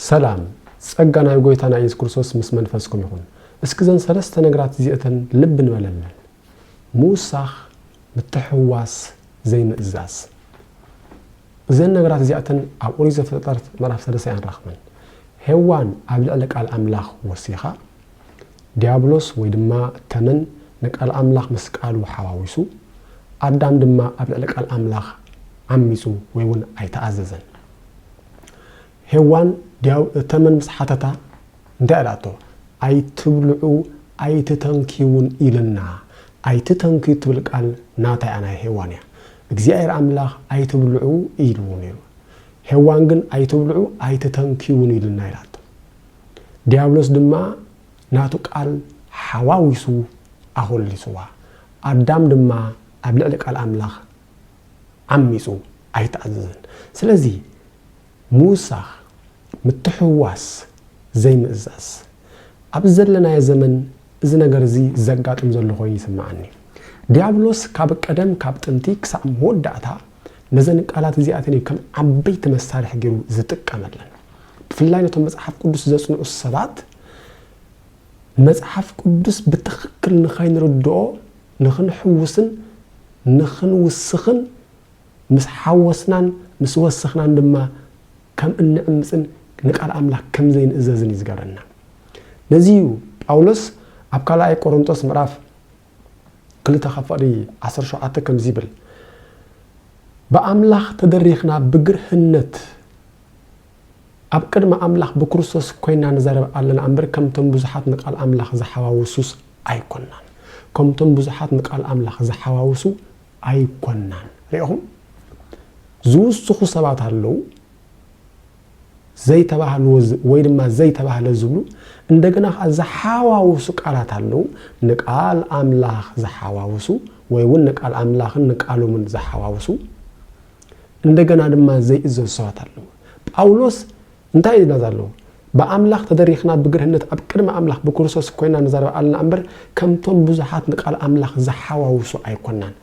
ሰላም ጸጋ ናይ ጎይታና ኢየሱስ ክርስቶስ ምስ መንፈስኩም ይኹን እስኪ ዘን ሰለስተ ነግራት እዚእተን ልብ ንበለለን ምውሳኽ ምትሕውዋስ ዘይምእዛዝ እዘን ነግራት እዚኣተን ኣብ ኦሪት ዘፍጥረት ምዕራፍ ሰለስተ ኣይንረኽበን ሄዋን ኣብ ልዕሊ ቃል ኣምላኽ ወሲኻ ዲያብሎስ ወይ ድማ ተመን ንቃል ኣምላኽ ምስ ቃሉ ሓዋዊሱ ኣዳም ድማ ኣብ ልዕሊ ቃል ኣምላኽ ዓሚጹ ወይ እውን ኣይተኣዘዘን ሄዋን ድያው ተመን ምስ ሓተታ እንታይ ኣላቶ ኣይትብልዑ ኣይትተንክዩ ውን ኢልና ኣይትተንክዩ ትብል ቃል ናታ እያ ናይ ሄዋን እያ እግዚኣብሔር ኣምላኽ ኣይትብልዑ ኢልዎ ነይሩ ሄዋን ግን ኣይትብልዑ ኣይትተንክዩ ውን ኢልና ኢላቶ ድያብሎስ ድማ ናቱ ቃል ሓዋዊሱ ኣኾሊስዋ ኣዳም ድማ ኣብ ልዕሊ ቃል ኣምላኽ ዓሚጹ ኣይተኣዘዘን። ስለዚ ምውሳኽ፣ ምትሕውዋስ፣ ዘይምእዛዝ። ኣብዚ ዘለናዮ ዘመን እዚ ነገር እዚ ዘጋጥም ዘሎ ኮይኑ ይስምዓኒ። ድያብሎስ ካብ ቀደም ካብ ጥንቲ ክሳዕ መወዳእታ ነዘን ቃላት እዚኣተን እዩ ከም ዓበይቲ መሳርሒ ገይሩ ዝጥቀመለን። ብፍላይ ነቶም መጽሓፍ ቅዱስ ዘጽንዑ ሰባት መጽሓፍ ቅዱስ ብትኽክል ንኸይንርድኦ ንኽንሕውስን ንኽንውስኽን፣ ምስ ሓወስናን ምስ ወሰኽናን ድማ ከም እንዕምጽን ንቃል ኣምላኽ ከም ዘይንእዘዝን እዩ ዝገብረና። ነዚ እዩ ጳውሎስ ኣብ ካልኣይ ቆሮንጦስ ምዕራፍ ክልተ ካብ ፍቕዲ ዓሰርተ ሸውዓተ ከምዚ ይብል፣ ብኣምላኽ ተደሪኽና ብግርህነት፣ ኣብ ቅድሚ ኣምላኽ ብክርስቶስ ኮይንና ንዛረብ ኣለና እምበር ከምቶም ብዙሓት ንቃል ኣምላኽ ዝሓዋውሱስ ኣይኮናን ከምቶም ብዙሓት ንቃል ኣምላኽ ዝሓዋውሱ ኣይኮናን ሪኢኹም ዝውስኹ ሰባት ኣለዉ ዘይተባህልዎ ወይ ድማ ዘይተባህለ ዝብሉ እንደገና ከዓ ዝሓዋውሱ ቃላት ኣለዉ ንቃል ኣምላኽ ዝሓዋውሱ ወይ እውን ንቃል ኣምላኽን ንቃሎምን ዝሓዋውሱ እንደገና ድማ ዘይእዘዙ ሰባት ኣለዉ። ጳውሎስ እንታይ እዩ ዝብላ ዘሎ? ብኣምላኽ ተደሪኽና ብግርህነት ኣብ ቅድሚ ኣምላኽ ብክርስቶስ ኮይና ንዛረብ ኣለና እምበር ከምቶም ብዙሓት ንቃል ኣምላኽ ዝሓዋውሱ ኣይኮናን።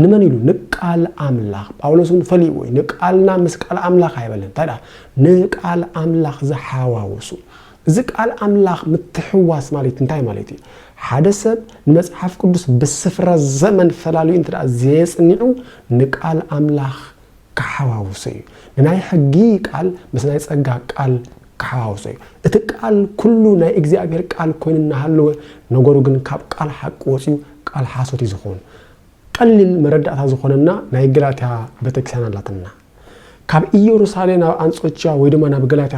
ንመን ኢሉ? ንቃል ኣምላኽ። ጳውሎስ እውን ፈሊዎ እዩ። ንቃልና ምስ ቃል ኣምላኽ ኣይበለን። እንታይ ደኣ ንቃል ኣምላኽ ዝሓዋውሱ እዚ ቃል ኣምላኽ ምትሕውዋስ ማለት እንታይ ማለት እዩ? ሓደ ሰብ ንመጽሓፍ ቅዱስ ብስፍራ ዘመን ፈላልዩ እንተ ዘየጽኒዑ ንቃል ኣምላኽ ክሓዋውሶ እዩ። ንናይ ሕጊ ቃል ምስ ናይ ጸጋ ቃል ክሓዋውሶ እዩ። እቲ ቃል ኩሉ ናይ እግዚኣብሔር ቃል ኮይኑ እናሃለወ ነገሩ ግን ካብ ቃል ሓቂ ወጽዩ ቃል ሓሶት እዩ ዝኸውን። ቀሊል መረዳእታ ዝኾነና ናይ ገላትያ ቤተክርስቲያን ኣላትና። ካብ ኢየሩሳሌም ናብ ኣንጾችያ ወይ ድማ ናብ ገላትያ